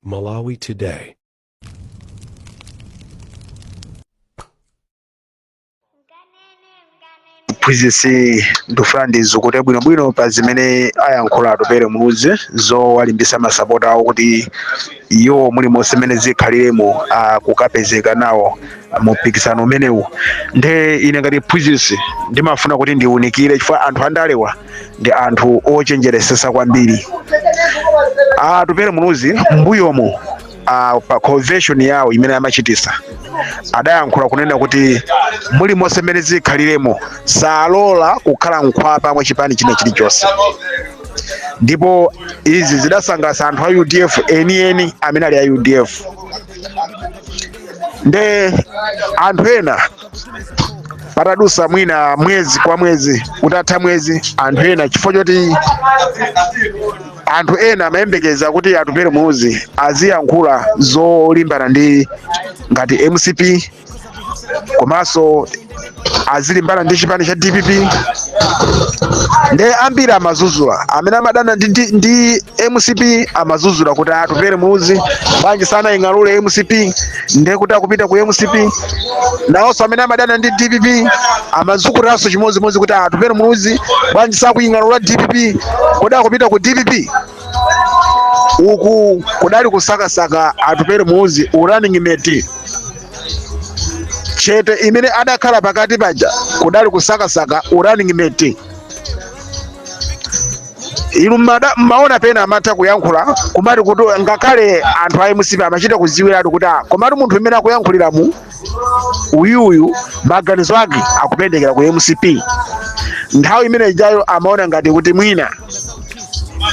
Malawi Today. mphunzitsi ndikufuna ndizukute bwinobwino pa zimene ayankhula Atupele Muluzi zowalimbisa masapota awo kuti iwo mulimonse mmene zikhaliremo akukapezeka nawo mu mpikisano umenewu nde ine ngati mphunzitsi ndimafuna kuti ndiunikire chifukwa anthu andalewa ndi anthu ochenjeresesa kwambiri Atupele Muluzi mbuyomu uh, pa convention yawo imene amachitisa adayankhula kunena kuti mulimonse mmene zikhaliremo salola kukhala mkhwapa mwa chipani china chilichonse ndipo izi zidasangalatsa anthu a udf enieni amene ali a udf nde anthu ena patadusa mwina mwezi kwa mwezi utatha mwezi anthu ena chifukwa choti anthu ena amayembekeza kuti Atupele Muluzi aziyankhula zolimbana ndi ngati mcp komanso azilimbana ndi chipani cha dpp nde ambiri amadzudzula amene amadana ndi, ndi, ndi mcp amadzudzula kuti Atupele Muluzi bwanji sanaying'alule mcp ndiye kuti akupita ku mcp nawonso amene amadana ndi dpp amadzudzulanso chimodzimodzi kuti Atupele Muluzi bwanji sakuying'alula dpp kodi akupita ku dpp uku kudali kusakasaka Atupele Muluzi running mate chete imene adakhala pakati paja kudali kusakasaka running mate inu mmada- mmaona pena amatha kuyankhula kumati kuti ngakhale anthu a mcp amachita kudziwiratu kuti ah, komatu munthu mmene akuyankhuliramu uyuyu maganizo ake akupendekera ku mcp nthawi imene ijayo amaona ngati kuti mwina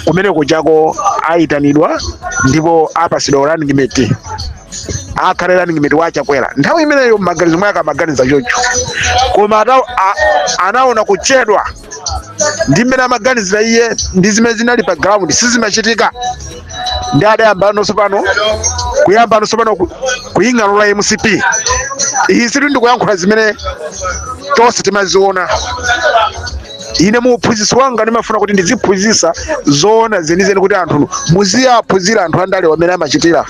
kumene kujako ayitanidwa ndipo apasidwa running mate akhale running mate wa chakwera nthawi imeneyo mmaganizo mwake amaganiza choncho koma ata- a- anaona kuchedwa ndi mmene amaganizira iye ndi zimene zinali pa ground sizimachitika ndi adayambano tsopano kuyambano tsopano ku- kuying'alula mcp izi ndikuyankhula zimene tonse timaziona ine mu uphunzitsi wanga ndimafuna kuti ndiziphunzitsa zoona zenizeni kuti anthu muziyaphunzira anthu andalewa mmene amachitira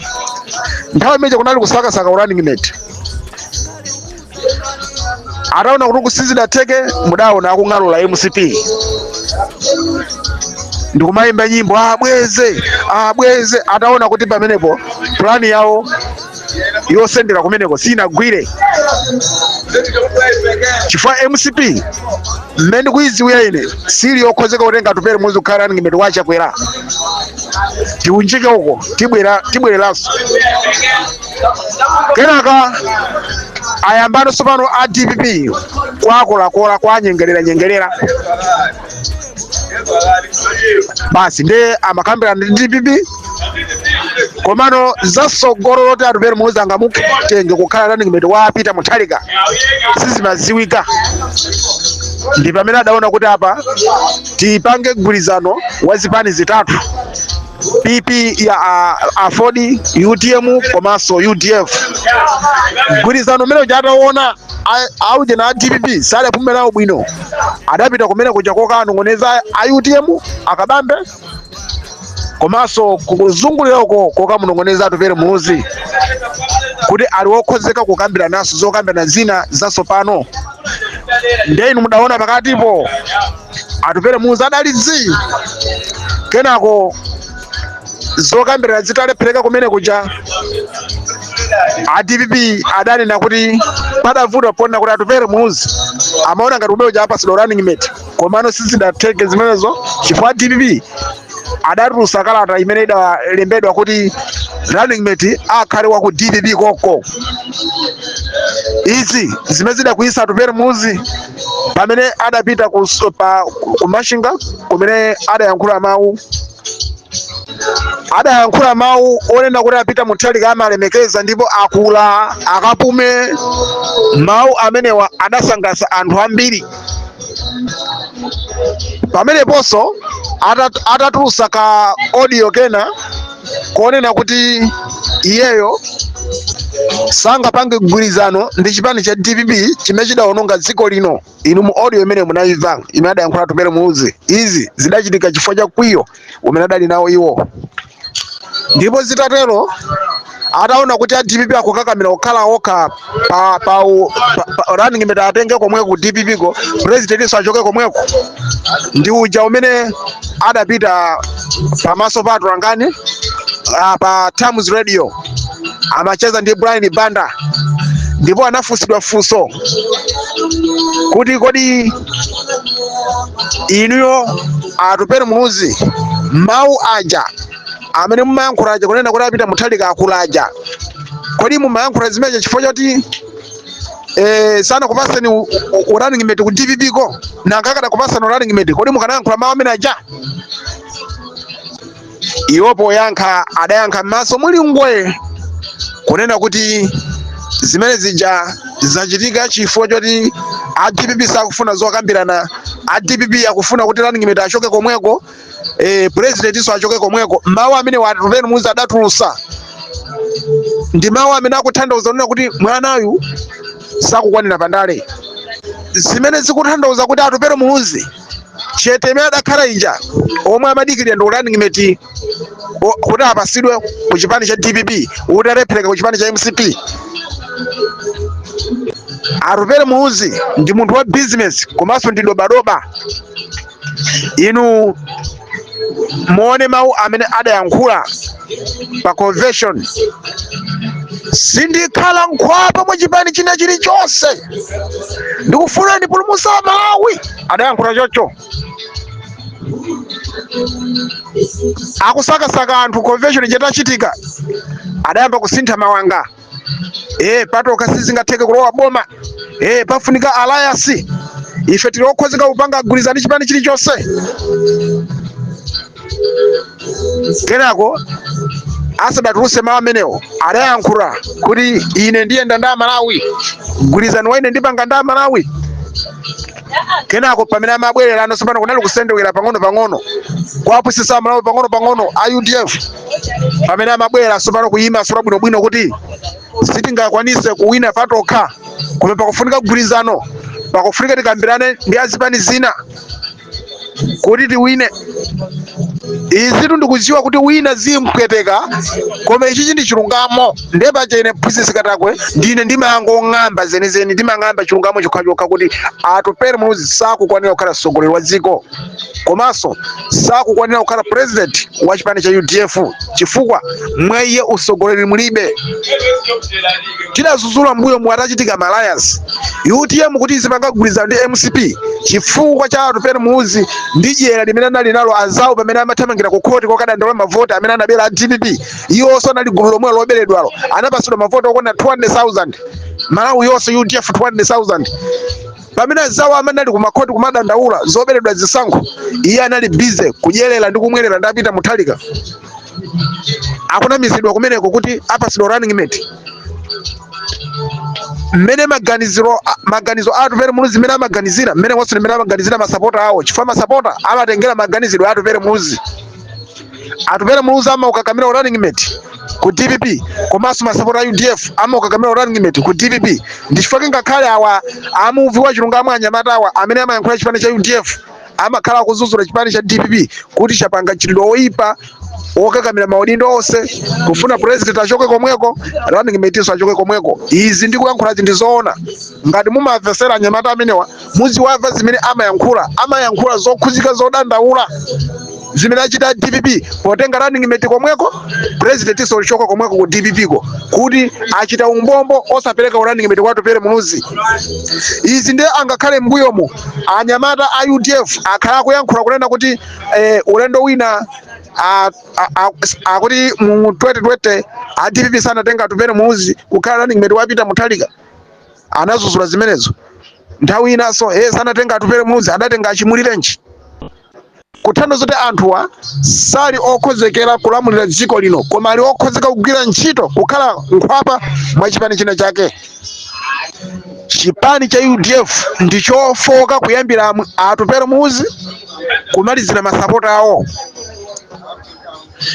nthawi imene kunali kusakasaka running mate ataona kuti uku sizidatheke mudaona akuying'alula mcp ndikumayimba nyimbo abweze abweze ataona kuti pamenepo plani yawo yosendera kumeneko sinagwire chifukwa mcp mmene ndikuyidziwira ine sili yokhozeka kutenga atupere muluzi kukhala running mate wa chakwera tiunjike uko tibwera tibwereranso kenaka ayambano tsopano a dpp kwakorakola kwanyengerera nyengerera basi ndiye amakambirana ndi dpp komano zasogolo loti atupere muluzi angamutenge kukhala running mate wa a peter mutharika sizimaziwika ndi pamene adaona kuti apa tipange mgwirizano wa zipani zitatu pp ya a- aford utm komanso udf mgwirizano umene uja ataona aujena a dpp sadapume nawo bwino adapita kumenekuja kokanong'oneza a utm a kabambe komanso kuzungulira uko kokamunong'oneza atupere muluzi kuti ali wokhozeka kukambirananso zokambirana zina zatsopano nde inu mudaona pakatipo atupere muluzi adali zii kenako zokambirana zitalephereka kumenekuja a dpp adanena kuti padavuta poona kuti atupere muluzi amaona ngati kumenekuja apasidwa running mate komano sizidatheke zimenezo chifukwa dpp adatulutsa kalata imene idalembedwa kuti running mate akhale wa ku dpp konko izi zimene zidakwiyitsa atupere muluzi pamene adapita ku, s- pa, ku machinga kumene adayankhula mawu adayankhula mawu onena kuti a peter mutharika amawalemekeza ndipo akula akapume mawu amenewa adasangalatsa anthu ambiri pameneponso atat- atatulusa ka audio kena konena kuti iyeyo sangapange mgwirizano ndi chipani cha dpp chimene chidawononga dziko lino inu mu audio imene munayimva imene adayankhula atupere muluzi izi zidachitika chifukwa cha mkwiyo umene adali nawo iwo ndipo zitatero ataona kuti a dpp akukakamira kukhala okha pa, pa, u- pa, pa running mate atenge komweko ku dpp ko presidentinso achoke komweko ndi muja mmene adapita pamaso pa atolankhani ah, pa times radio amacheza ndi brian banda ndipo anafunsidwa funso kuti kodi inuyo atupere muluzi mawu aja amene mumayankhula aja kunena kuti a peter mutharika akula aja kodi mumayankhula zimenezo chifukwa choti eh, sanakupasani u- u- u running mate ku dpp ko nanga akadakupasani u running mate kodi mukanayankhula mawu ameneaja Iwo poyankha adayankha m'maso muli gwa kunena kuti zimene zija zachitika chifukwa choti a dpp sakufuna zokambirana a dpp akufuna kuti running mate achoke komweko presidentinso achoke komweko mawu amene wa Atupele Muluzi adatulusa ndi mawu amene akuthandauza kunena kuti mwanayu sakukwanira pandale zimene zikuthandauza kuti Atupele Muluzi chete imene adakhala ija omwe amadikirira ndi running mate kuti apasidwe ku chipani cha dpp kuti zalephereka ku chipani cha mcp Atupele Muluzi ndi munthu wa business komanso ndi dobadoba inu muone mawu amene adayankhula pa convention sindikhala nkhwapa mwa chipani china chilichonse ndikufuna ndipulumutse amalawi adayankhula chocho akusakasaka anthu convention itachitika adayamba kusintha mawanga eh patokha sizingatheke kulowa boma eh pafunika alliance ife tili okhozeka kupanga mgwirizano ndi chipani chilichonse kenako asadatuluse mawu amenewo adayankhula kuti ine ndiyenda ndi amalawi mgwirizano wa ine ndipanga ndi amalawi kenako pamene amabwererano tsopano kunali kusendewera pang'ono pang'ono kuwapusisa amalawi pang'ono pang'ono a udf pamene amabwera tsopano kuyimasula bwinobwino kuti sitingakwanise kuwina patokha koma pakufunika mgwirizano pakufunika tikambirane ndi azipani zina kuti tiwine izitu ndikuziwa kuti wina zimpweteka koma ichichi ndi chilungamo ndiye paja ine phunzitsi katakwe ndine ndimangong'amba zenizeni ndimang'amba chilungamo chokhachokha kuti Atupele Muluzi sakukwanira kukhala mtsogoleri wa dziko komanso sakukwanira kukhala president wa chipani cha udf chifukwa mwa iye utsogoleri mulibe tidazuzula m'mbuyomu atachitika ma alliance utm kuti izipanga mgwirizano ndi mcp chifukwa cha Atupele Muluzi ndi dyera limene anali nalo anzawo pamene amathamangira ku khoti kokadandaula mavoti amene anabera a dpp iwonso anali gulu lomwelo loberedwalo anapatsidwa mavoti okwana 200000 malawi yonse udf 200000 pamene azawo amene anali kumakhoti kumadandaula zoberedwa zisankho iye anali busy kudyerera ndi kumwerera ndi a Peter Mutharika akunamizidwa kumeneko kuti apasidwa running mate mmene maganiziro a- maganizo a Atupele Muluzi mmene amaganizira mmene monso ndi mmene amaganizira masapota awo chifukwa masapota amatengera maganizidwe a Atupele Muluzi Atupele Muluzi amaukakamira u running mate ku dpp komanso masapota a udf amaukakamira u running mate ku dpp ndi chifukwa ngakhale awa amuvi wa chilungamo anyamata awa amene amayankhula chipani cha udf amakhala akudzudzula chipani cha dpp kuti chapanga mchitidwe woyipa wokakamira maudindo onse kufuna president achoke komweko running mate achoke komweko izi ndikuyankhula zinthu zoona ngati mumamvesera anyamata amenewa mudziwamva zimene amayankhula amayankhula zokhudzika zodandaula zimene achita dpp potenga running mate komweko president nso kuchoka komweko ku dpp ko kuti achita umbombo osapereka running mate kwa Atupele muluzi izi ndiye angakhale mbuyomu anyamata a udf akhala akuyankhula kunena kuti eh, ulendo wina a- a- a- akuti mu 2020 a dpp sanatenga Atupele muluzi kukhala running mate wa Peter Mutharika anadzudzula zimenezo nthawi inanso he sanatenga Atupele muluzi adatenga a Chimulirenji kutanthauza zoti anthuwa sali okhozekera kulamulira dziko lino koma ali okhozeka kugwira ntchito kukhala mkhwapa mwa chipani china chake chipani cha udf ndi chofoka kuyambira amu- Atupele muluzi kumalizira masapota awo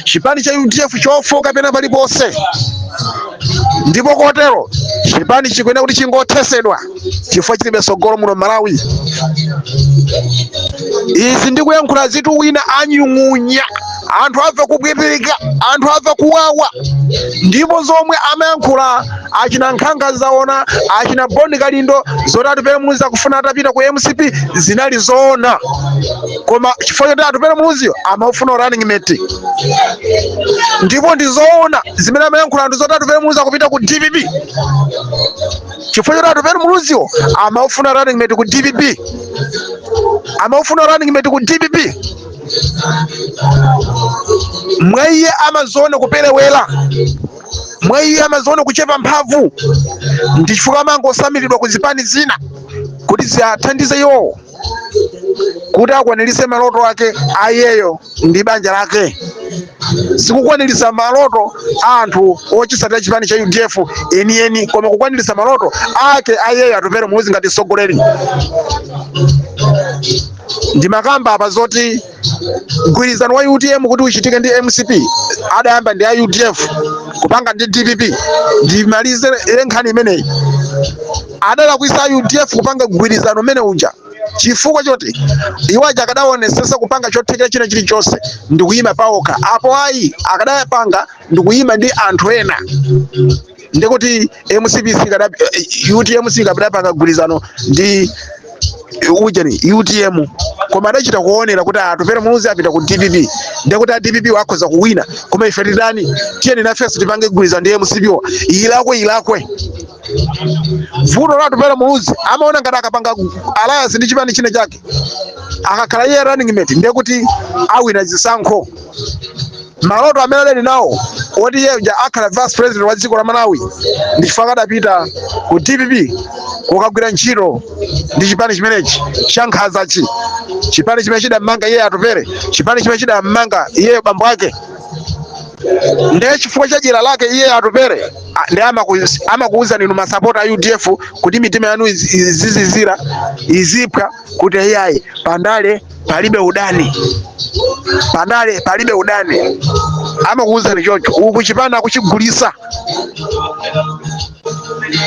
chipani cha udf chofoka pena paliponse ndipo kotero chipani chikuyenera kuti chingothetsedwa chifukwa chilibe tsogolo muno m'Malawi izi ndikuyankhula izitu wina anyung'unya anthu amva kuipidwa anthu amva kuwawa ndipo zomwe amayankhula achina nkhanga zaona achina Bon Kalindo zoti Atupele Muluzi akufuna atapita ku mcp zinali zoona koma chifukwa choti atupele muluziyo amaufuna running mate ndipo ndizoona zimene amayankhula anthu zoti atupele muluzi akupita ku dpp chifukwa choti atupele muluziwo amaufuna running mate ku dpp amaufuna running mate ku dpp mwa iye amaziona kuperewera mwa iye amaziona kuchepa mphamvu ndi chifukwa amangotsamiridwa ku zipani zina kuti ziathandize iwowo kuti akwaniritse maloto ake ayeyo ndi banja lake sikukwaniritsa maloto a anthu ochitsatira chipani cha udf enieni koma kukwaniritsa maloto ake ayeyo Atupele Muluzi ngati mtsogoleri ndimakamba apa zoti mgwirizano wa utm kuti uchitike ndi mcp adayamba ndi a udf kupanga ndi dpp ndimalize nkhani imeneyi adalakwitsa a udf kupanga mgwirizano umene uja chifukwa choti iwo aja akadaonetsetsa kupanga chothekera china chilichonse ndikuyima paokha apo ayi akadapanga ndikuyima ndi anthu ena ndikuti mcp sikada eh, utm sikadapanga gwirizano ndi ujeni utm koma adachita kuonera kuti atupere muluzi apita ku dpp ndikuti a dpp wakhoza kuwina koma ife titani tiyeni nafenso tipange gwirizano ndi mcp wo ilakwe ilakwe vuto la atupere muluzi amaona ngati akapanga alliance ndi chipani china chake akakhala iye running mate ndekuti awina zisankho maloto amene adali nawo oti iye uja akhala vice president wa dziko la malawi ndi chifukwa adapita ku dpp kukagwira ntchito ndi chipani chimenechi cha nkhanzachi chipani chimene chidammanga iye atupere chipani chimene chidammanga iyeyo bambo ake ndiye chifukwa cha dyera lake iye atupere a- ndi amaku- amakuwuzani inu masapota a udf kuti mitima yanu iz- izizizira iziphwa kuti iyayi pandale palibe udani pandale palibe udani amakuwuzani choncho uku chipani akuchigulisa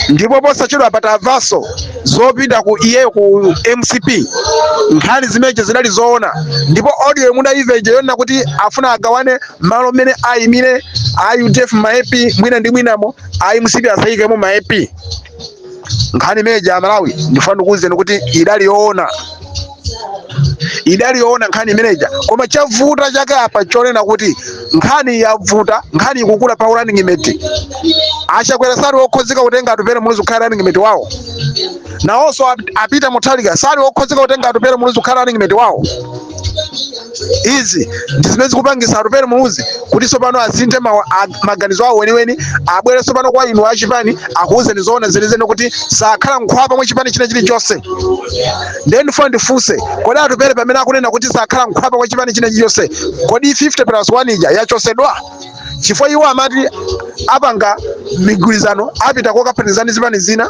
ndipo posachedwapa tavaso zopita ku iyeyo ku mcp nkhani zimenezo zidali zoona ndipo audio mudaimva ija yonena kuti afuna agawane malo mmene ayimire a udf ma mp mwina ndi mwinamo a mcp asayikemo ma mp nkhani imene ija amalawi ndifuna ndikuwuzeni kuti idali yoona idali yoona nkhani imeneja koma chavuta chake apa chonena kuti nkhani yavuta nkhani ikukula pa running mate achakwera sali okhozeka kutenga atupere muluzi kukhala running mate wawo nawonso ap- a peter mutharika sali okhozeka kutenga atupere muluzi kukhala running mate wawo izi ndi zimene zikupangisa atupere muluzi kuti tsopano asinthe mawa- a- maganizo awo weniweni abwere tsopano kwa inu achipani akuwuzeni zoona zenizeni kuti sakhala mkhwapa mwa chipani china chilichonse ndiye ndifuna ndifunse kodi atupere pamene akunena kuti sakhala mkhwapa kwa chipani china chilichonse kodi 50 plus 1 ija yachosedwa chifukwa iwo amati apanga migwirizano apita kokaphatikizana ndi zipani zina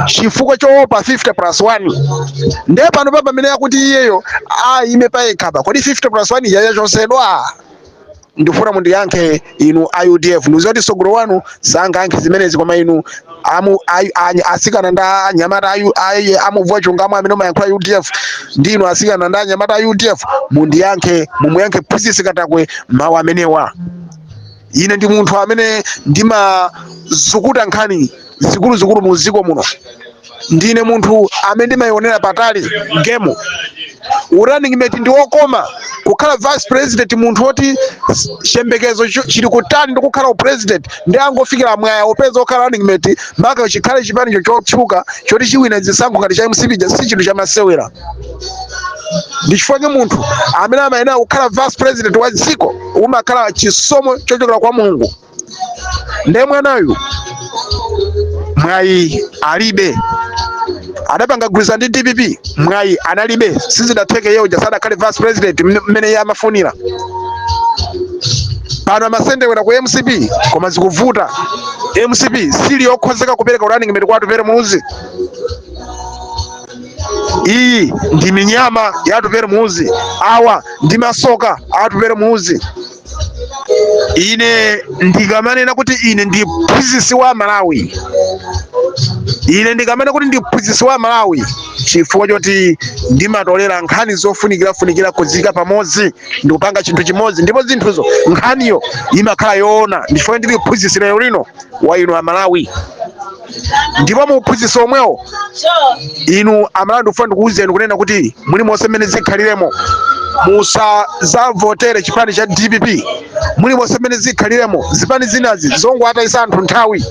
chifukwa choopa 50 plus 1 ndiye panopa pamene akuti iyeyo ayime payekhapa kodi 50 plus 1 ija yachosedwa ndifuna mundiyankhe inu a udf ndikuziwa kuti sogolo wanu sangayankhe zimenezi koma inu amu a- a- asikana ndi anyamata ayu- ayi- amubvwa chungamo amene umayankhula udf ndi inu asikana ndi anyamata a udf mundiyankhe mumuyankhe phunzitsi katakwe mawu amenewa ine ndi munthu amene ndimazukuta nkhani zikuluzikulu mu dziko muno ndine munthu amene ndimayionera patali gemu running mate ndi wokoma kukhala vice president munthu woti s- chiyembekezo cho- chili kutali ndi kukhala upresident ndi angofikira mwayi wopeza okhala running mate maka chikhale chipani chotchuka choti chiwina zisankho ngati cha mcp ja- si chinthu chamasewera ndi chifukwa chake munthu amene amayenera kukhala vice president wa dziko umakhala chisomo chochokera kwa mulungu nde mwanayu mwayi alibe adapanga gwirizano ndi dpp mwayi analibe sizidatheke iye uja sadakhale vice president mne- mmene iye amafunira pano amasendewera ku mcp koma zikuvuta mcp sili yokhozeka kupereka running mate kwa atupele muluzi iyi ndi minyama ya atupele muluzi awa ndi masoka a atupele muluzi ine ndikamanena kuti ine ndi mphunzitsi wa malawi ine ndikamanena kuti ndi mphunzitsi wa malawi chifukwa choti ndimatolera nkhani zofunikirafunikira kuziika pamodzi ndikupanga chinthu chimodzi ndipo zinthuzo nkhaniyo imakhala yoona ndi chifukwa ndili mphunzitsi lero lino wa inu amalawi ndipo mu uphunzitsi omwewo inu amalawi ndikufuna ndikuwuzeni kunena kuti muli monse mmene zikhaliremo musazavotere chipani cha dpp muli monse mmene zikhaliremo zipani zinazi zongowatayisa anthu nthawi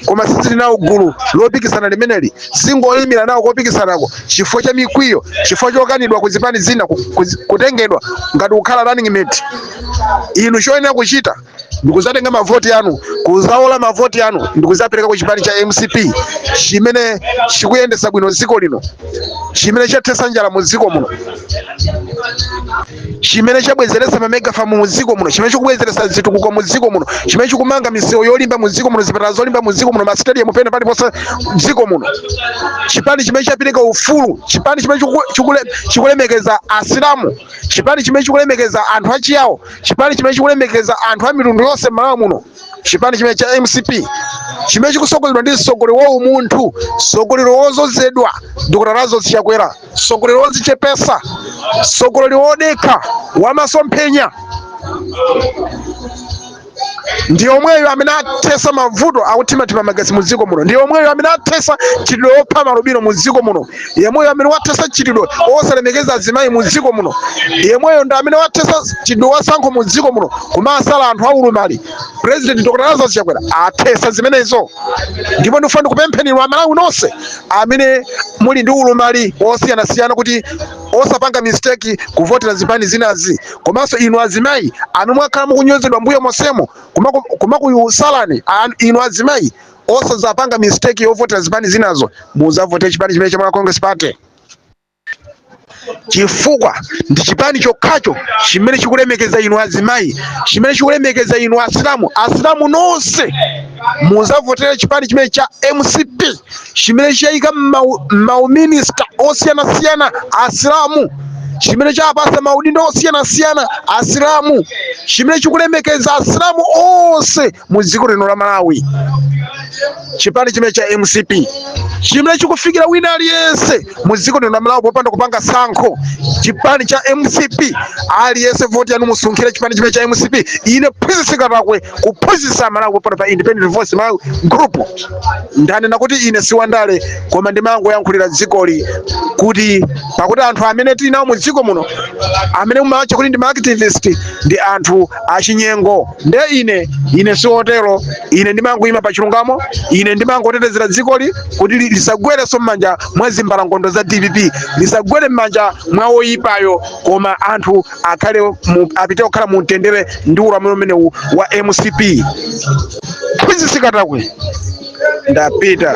koma sizili nawo gulu lopikisana limeneli zingoyimira nawo kopikisanako chifukwa cha mikwiyo chifukwa chokanidwa ku zipani zina ku- ku- kutengedwa ngati kukhala running mate inu choyenera kuchita ndikuzatenga mavoti anu kuzawola mavoti anu ndikuzapereka ku chipani cha mcp chimene chikuyendetsa bwino dziko lino chimene chathetsa njala mu dziko muno chimene chabwezeretsa mamegafamu mu dziko muno chimene chikubwezeretsa zitukuko mu dziko muno chimene chikumanga misewu yolimba mu dziko muno zipatala zolimba mu dziko muno masitediyamu pena paliponse dziko muno chipani chimene chapereka ufulu chipani chimene chikule- chikule- chikulemekeza asilamu chipani chimene chikulemekeza anthu achiyawo chipani chimene chikulemekeza anthu a mitundu yonse m'malawi muno chipani chimene cha mcp chimene chikusogozedwa ndi mtsogoleri wa umunthu mtsogoleri wozozedwa dr lazarus chakwera mtsogoleri wozichepesa mtsogoleri wodekha wamasomphenya ndi omweyo amene athesa mavuto akuthimathima magesi mu dziko muno ndi omweyo amene athesa mchitidwe opha maalubino mu dziko muno yemweyo amene wathesa mchitidwe osalemekeza azimayi mu dziko muno yemweyo ndi amene wathesa mchitidwe wasankho mu dziko muno kumasala anthu aulumali president dr lazarus chakwera athesa zimenezo ndipo ndifuna ndikupempheni inu amalawi nonse amene muli ndi ulumali osiyanasiyana kuti osapanga mistake kuvotera zipani zinazi komanso inu azimayi amene mwakhala mukunyozedwa mbuyo monsemo kumaku- kumakusalani an- inu azimayi osazapanga mistake yovotera zipani zinazo muzavotere chipani chimene cha malawi congress party chifukwa ndi chipani chokhacho chimene chikulemekeza inu azimayi chimene chikulemekeza inu asilamu asilamu nonse muzavotera chipani chimene cha mcp chimene chayika mauminista osiyanasiyana asilamu chimene chapasa maudindo osiyanasiyana asilamu chimene chikulemekeza asilamu onse mu dziko lino la malawi chipani chimene cha mcp chimene chikufikira wina aliyense mu dziko lino la malawi popanda kupanga sankho chipani cha mcp aliyense voti yanu musunkhire chipani chimene cha mcp ine mphunzitsi katakwe kuphunzitsa amalawi pompano pa independent voice malawi group ndanena kuti ine si wandale koma ndimangoyankhulira dzikoli kuti pakuti anthu amene tili nawo mu dziko muno amene mumawatcha kuti ndi ma activist ndi anthu achinyengo nde ine ine siwotero ine ndimangoyima pa chilungamo ine ndimangotetezera dzikoli kuti li- lisagwerenso m'manja mwa zimbalangondo za dpp lisagwere m'manja mwa woyipayo koma anthu akhale mu- apite kukhala mu mtendere ndi ulamuliro umenewu wa mcp mphunzitsi katakwe ndapita